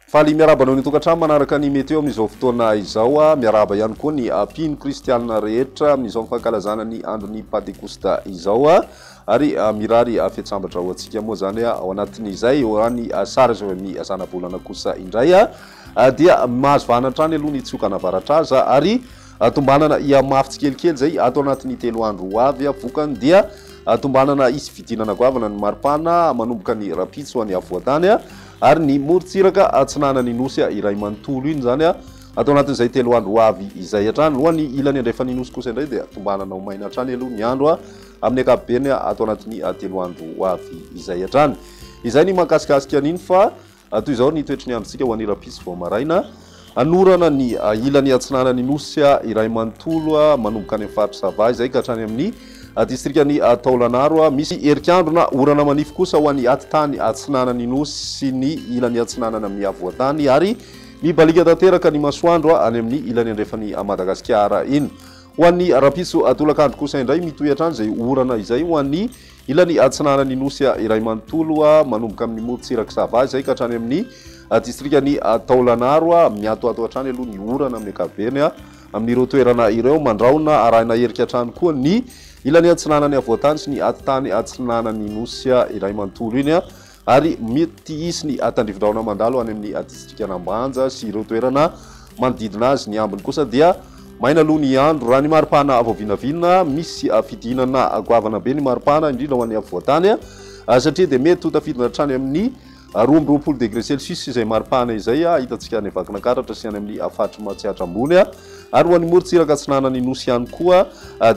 Faly miarahaba anao ny tokantrano manaraka ny meteo amin'izao fotoana izao. Ah, miarahaba ihany koa ny ah, mpino kristianina rehetra amin'izao fankalazana ny andron'ny Pantekosta izao. Ah. Ary mirary fiatsambatra ho antsika moa izany ao anatin'izay, eo any sary izao amin'ny zanabolana kosa indray. dia mahazo vahana hatrany aloha ny tsiokana avaratra aza ary tombanana hihamafy tsikelikely izay ato anatin'ny telo andro ho avy, vokany dia tombanana hisy fidinana goavana ny maripana manomboka ny rahampitso any afovoan-tany ary ny morontsiraka atsinanan'ny nosy iray manontolo iny izany ato anatin'izay telo andro ho avy izay hatrany, ho an'ny ilany andrefan'ny nosy kosa indray dia tombanana ho maina hatrany aloha ny andro amin'ny ankapobeny ato anatin'ny telo andro ho avy izay hatrany. Izay ny mahakasikasika an'iny fa Raha toy izao ny toetry ny androntsika ho an'Irapiso vao maraina, hanorana ny ilany atsinanan'ny Nosy iray manontolo manomboka any amin'ny faritr'i Sava izay ka hatrany amin'ny distrikan'i Taolagnaro. Misy erik'andro na orana manify kosa ho an'ny atitany atsinanan'ny Nosy sy ny ilany atsinanana amin'ny havoantany ary mibaliaka tanteraka ny masoandro any amin'ny ilany andrefan'i Madagasikara. Iny ho an'ny rapiso tolakandro kosa indray mitohy hatrany izay orana izay ho an'ny Ilany atsinanan'ny Nosy iray manontolo, manomboka amin'ny morontsirak'i Sava izay ka hatrany amin'ny distrikan'i Taolagnaro. Miatoato hatrany aloha ny orana amin'ny ankapobeny amin'ireo toerana ireo. Mandrahona arahina herika hatrany koa ny ilany atsinanan'ny havoantany sy ny atitany atsinanan'ny Nosy iray manontolo iny. ary mety hisy ny tandrivi-drahona mandalo any amin'ny distrikan'Ambanja sy ireo toerana manodidina azy, ny ambiny kosa dia maina aloha ny andro. Raha ny maripana vao vinavina, misy fidinana goavana be ny maripana, indrindra ho an'ny afovoan-tany, satria dia mety ho tafidina hatrany amin'ny roa amby roapolo degre celsius izay maripana izay hitantsika any Vakinankaratra sy any amin'ny faritry Matsiatra Ambony, ary ho an'ny morontsiraka atsinanan'ny Nosy ihany koa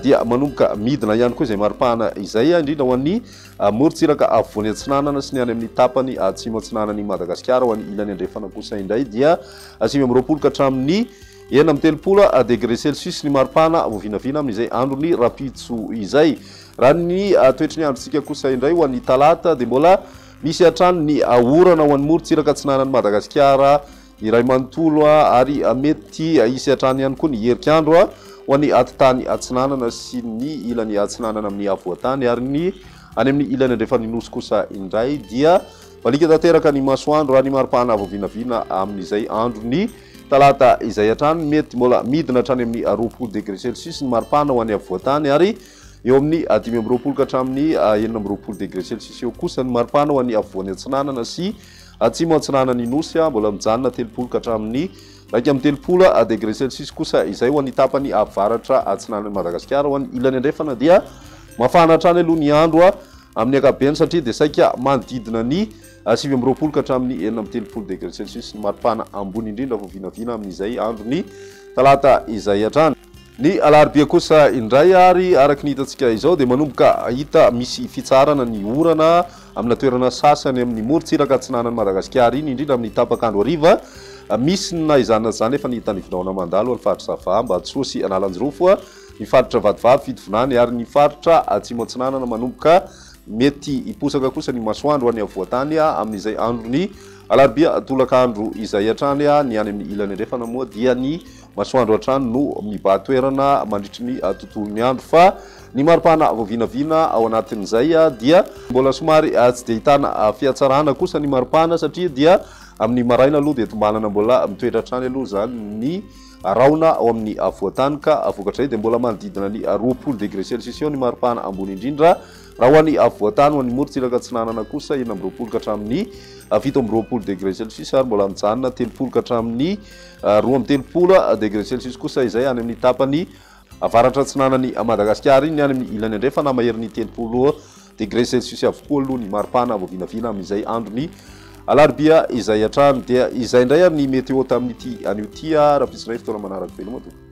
dia manomboka midina ihany koa izay maripana izay, indrindra ho an'ny Amorontsiraka afovoany atsinanana sy ny any amin'ny tapany atsimo atsinanan'i Madagasikara ho any ilany andrefana kosa indray dia sivy amby roapolo ka hatramin'ny enina amby telopolo degre celsius ny maripana vao vinavina amin'izay andron'ny rahampitso izay. Raha ny toetry ny androntsika kosa indray ho an'ny talata dia mbola misy hatrany ny orana ho an'ny morontsiraka atsinanan'i Madagasikara Iray manontolo ary mety hisy hatrany ihany koa ny herik'andro ho an'ny atitany atsinanana sy ny ilany atsinanana amin'ny afovoan-tany ary ny any amin'ny ilany andrefan'ny nosy kosa indray dia maliaka tanteraka ny masoandro raha ny maripana vao vinavina amin'izay andron'ny talata izay hatrany mety mbola midina hatrany amin'ny roapolo degré celsius ny maripana ho an'ny afovoan-tany ary eo amin'ny dimy amby roapolo ka hatramin'ny enina amby roapolo degré celsius eo kosa ny maripana ho an'ny afovoany atsinanana sy Atsimo atsinanan'ny Nosy, mbola mijanona telopolo ka hatramin'ny iraika amby telopolo degre celsius kosa izay ho an'ny tapany avaratra atsinanan'i Madagasikara. Ho an'ny ilany andrefana dia mafana hatrany aloha ny andro amin'ny ankapobeny satria dia saika manodidina ny sivy amby roapolo ka hatramin'ny enina amby telopolo degre celsius ny maripana ambony indrindra vao vinavina amin'izay andron'ny talata izay hatrany. Ny alarobia kosa indray ary araka ny hitantsika izao dia manomboka hita misy fitsaharana ny orana amina toerana sasany amin'ny morontsiraka atsinanan'i Madagasikara iny indrindra amin'ny tapak'andro hariva. Misy ny naizanina izany efa nita nivilaona mandalo any faritra Sava, Ambatosoa sy Analanjirofo, ny faritra Vatovavy, Fitovinany ary ny faritra Atsimo Atsinanana manomboka mety hiposaka kosa ny masoandro any afovoantany amin'izay andron'ny alarobia tolakandro izay hatrany. Ny any amin'ny ilany andrefana moa dia ny Masoandro hatrany no mibahan-toerana mandritry ny tontolon'ny andro fa ny maripana vao vinavina ao anatin'izay dia mbola somary tsy dia ahitana fihatsarana kosa ny maripana satria dia amin'ny maraina aloha dia tombanana mbola mitoetra hatrany aloha izany ny rahona ao amin'ny afovoan-tany ka vokatrizay dia mbola manodidina ny roapolo degré celsius eo ny maripana ambony indrindra raha ho an'ny afovoan-tany ho an'ny morontsiraka atsinanana kosa enina amby roapolo ka hatramin'ny fito amby roapolo degré celsius ary mbola mijanona telopolo ka hatramin'ny Roa amby telopolo degré celsius kosa izay any amin'ny tapany avaratra-atsinanan'i Madagasikara. Iny any amin'ny ilany andrefana maherin'ny telopolo degré celsius avokoa aloha ny maripana vao vinavina amin'izay andron'ny alarobia izay hatrany. Dia izay indray ary ny météo tamin'ity anio ity ah, raha pitsonay fotoana manaraka veloma tompoko.